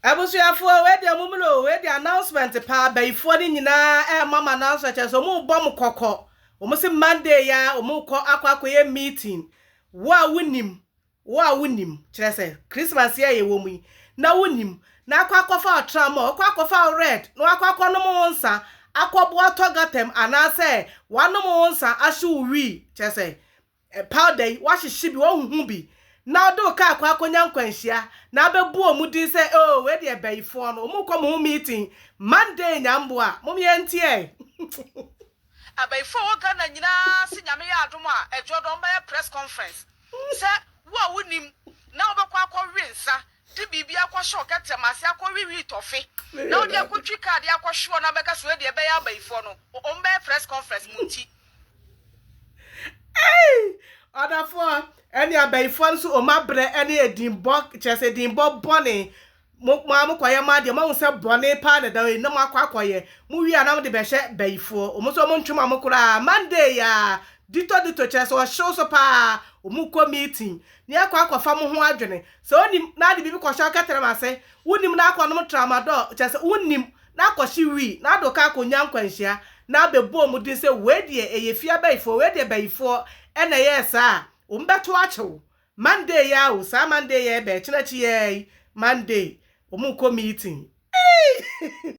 Abusuafoɔ wei deɛ mommerɛ oo wei deɛ announcement paa bayifoɔ no nyinaa ɛrema mo announcement kyerɛ sɛ wɔn rebɔ mo kɔkɔ wɔn se Monday ya wɔn rekɔ akɔ akɔyɛ meeting wo a wonim wo a wonim kyerɛ sɛ Christmas yɛ yɛwɔ mu yi na wonim na akɔ akɔfa wo tramɔ akɔ akɔfa wo red na wakɔ akɔ nom wo nsa akɔboa tɔ gatam anaasɛ wanom wo nsa ahye wo wii kyerɛ sɛ Ɛpaw da yi, woahyehye bi, woahuhu bi, na wode wo kaa kɔ akonya nkwanhyia, na abɛbu wɔn din sɛ, Oh, wei deɛ bayifoɔ no, wɔkɔ mo ho meeting Monday, nyamboa, mom yɛn nteɛ. Abayifo a ɛwɔ Ghana nyinaa se Nyame yɛ adom a ɛdwoɔ dɛ wɔbɛyɛ press conference sɛ wo a wonim na wobɛkɔ akɔ we nsa de biribi akɔ hyɛ ɔkɛtɛm ase akɔ we wheat ɔfe na wode akɔ twi kaa de akɔ hwe wɔn abɛka sɛ wei deɛ ɛbɛyɛ abayifoɔ no wɔbɛyɛ press conference mo nti Ei! Ɔdafoɔ, ɛne abayifoɔ no so ɔmo abrɛ ɛne edinbɔ, kyerɛ sɛ edinbɔ bɔne. Mo mo a mokɔyɛ mo adeɛ, moahu sɛ bɔne paa na ɛda hɔ yi, na moakɔ akɔyɛ. Mowie a na mode bɛhyɛ bayifoɔ. Ɔmo nso ɔmo ntwe mo amo koraa. Monday yi ara, ditɔ ditɔ, kyerɛ sɛ ɔhyew so paa. Ɔmo kɔ meeting, ne akɔ akɔfa mo ho adwene. Sɛ wonim, na ade bibi kɔhyɛ wo kɛtrɛma ase. Wonim na akɔnom tramadol, kyerɛ sɛ wonim. na akɔhye wi, na ado ka akonya nkwanhyia, na abɛbɔɔ mu den sɛ wei deɛ ɛyɛ fie abayifoɔ, wei deɛ bayifoɔ na ɛyɛɛ saa a, wɔbɛto akyɛ wo. Monday yi ara o, saa Monday yi a ɛbɛn, ɛkyena akyi yi ara yi, Monday, wɔrekɔ meeting. Eii!